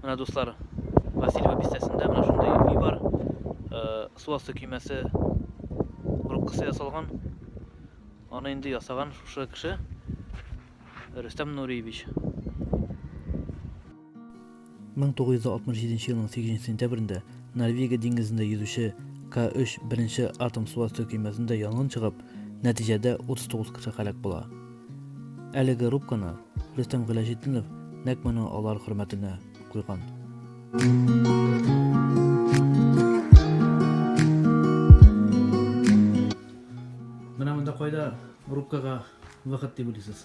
Менә дуслар, Васильева бистәсендә менә шундый өй бар. Су асты көймәсе рубкасы ясалган. Аны инде ясаган шушы кеше Рөстәм Нуриевич. 1967 елның 8 сентябрендә Норвегия диңгезендә йөзүче К-3 беренче атом су асты көймәсендә янгын чыгып, нәтиҗәдә 39 кеше һәлак була. Әлеге рубканы Рөстәм Гыйләҗетдинов нәкъ менә алар хөрмәтенә куйган. Менә монда кайда рубкага выход дип уйлыйсыз?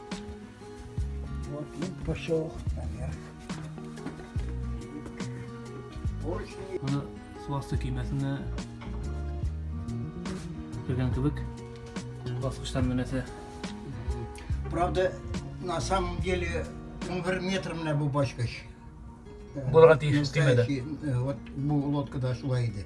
Вот и пошел наверх. Аны су асты көймәсенә кергән кебек баскычтан менәсә. Правда, на самом деле, он бер метр менә бу баскыч. Булырга тиеш көймәдә. Вот бу лодкада шулай иде.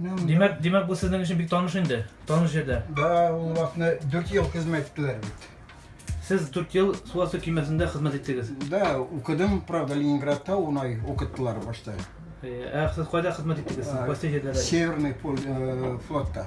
Димәк, димәк бу сезнең өчен бик таныш инде, таныш җирдә. Да, ул вакытны 4 ел хезмәт иттеләр бит. Сез 4 ел су асты көймәсендә хезмәт иттегез. Да, укыдым, правда, Ленинградта унай укыттылар башта. Ә сез кайда хезмәт иттегез? Сез кайсы җирдә? Северный э, флотта.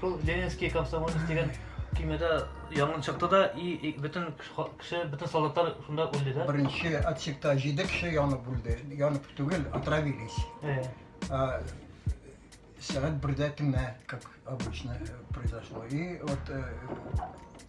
Шул Ленинский комсомолец дигән көймәдә янгын чыкты да, и бөтен кеше, бөтен солдатлар шунда үлде да. Беренче отсекта җиде кеше янып үлде. Янып түгел, отравились. Э. А, сәгать бердә тимә, как обычно э, произошло. И вот э,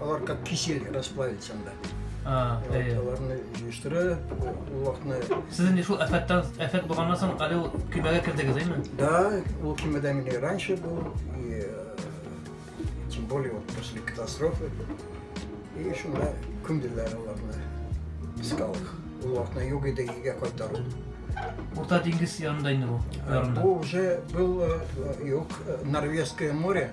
Алар как кисель расплавится анда. А, әйе. Аларны җыештыра, улакны. Сез инде шул афәттән афәт булганнан соң әле ул көймәгә кердегез, әйме? Да, ул көймәдә мин раньше был, и э, тем более вот после катастрофы. И шунда күмделәр аларны. Искал их. Улакны юг иде, игә кайтару. Урта диңгез янында инде бу. Ярында. Бу уже был э, юг э, Норвежское море.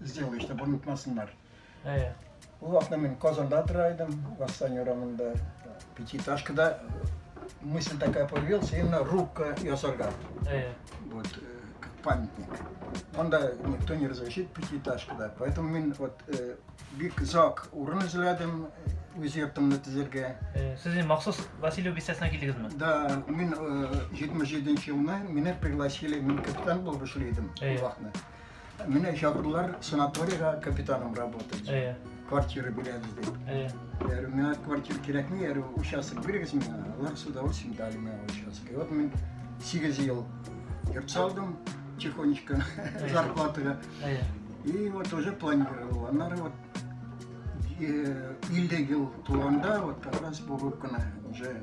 сделай, чтобы онытмасыннар. Әйе. Ул вакытта мин Казанда тора идем, Вассан урамында пятиэтажкада мысль такая появилась, именно рубка ясарга. Әйе. Вот как памятник. Монда никто не разрешит пятиэтажкада. Поэтому мин вот э, бик зак урын эзләдем, үз йортымны төзергә. Э, сез инде махсус Васильев бистәсенә килдегезме? Да, мин 77 э, елны мине пригласили, мин капитан булып эшли идем вакытны. Менә чакырдылар санаториягә капитаным работать. Әйе. Квартира бирәбез дип. Әйе. Я говорю, миңа квартира кирәкми, я говорю, участок бирегез миңа. Алар с удовольствием дали миңа участок. И вот мин 8 ел йорт салдым, тихонечко, зарплатага. Әйе. И вот уже планировал. Аннары вот э, 50 ел тулганда вот как раз бүгенге көне уже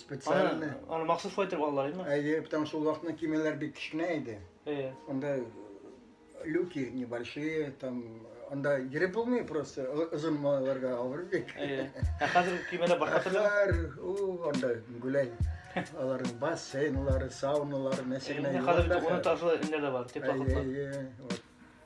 Специально. Аны, аны махсус шулай итеп алдылар, әйме? Әйе, потому что ул вакытны кимәләр бик кечкенә иде. Әйе. Анда э, люки небольшие, там анда йөреп булмый просто озын малайларга авыр бик. Әйе. Ә хәзер кимәләр башка төрле. Хәзер ул анда гүләй. Аларның бассейнлары, сауналары, нәрсә генә. Хәзер ул ташлы инде дә бар, теплоходлар. Әйе, әйе.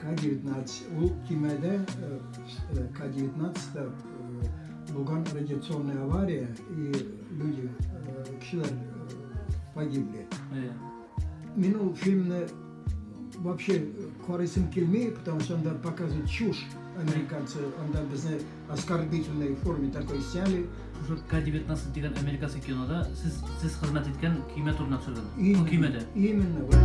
К-19 ул көймәдә К-19-та булган радиационная авария и люди, кешеләр погибли. Мин ул фильмны вообще карыйсым килми, потому что анда показывают чушь американцы, анда безне оскорбительной форме такой сняли. Уже К-19 дигән американский кинода сез сез хезмәт иткән көймә турында төшергән. Именно, көймәдә. Именно. Вот.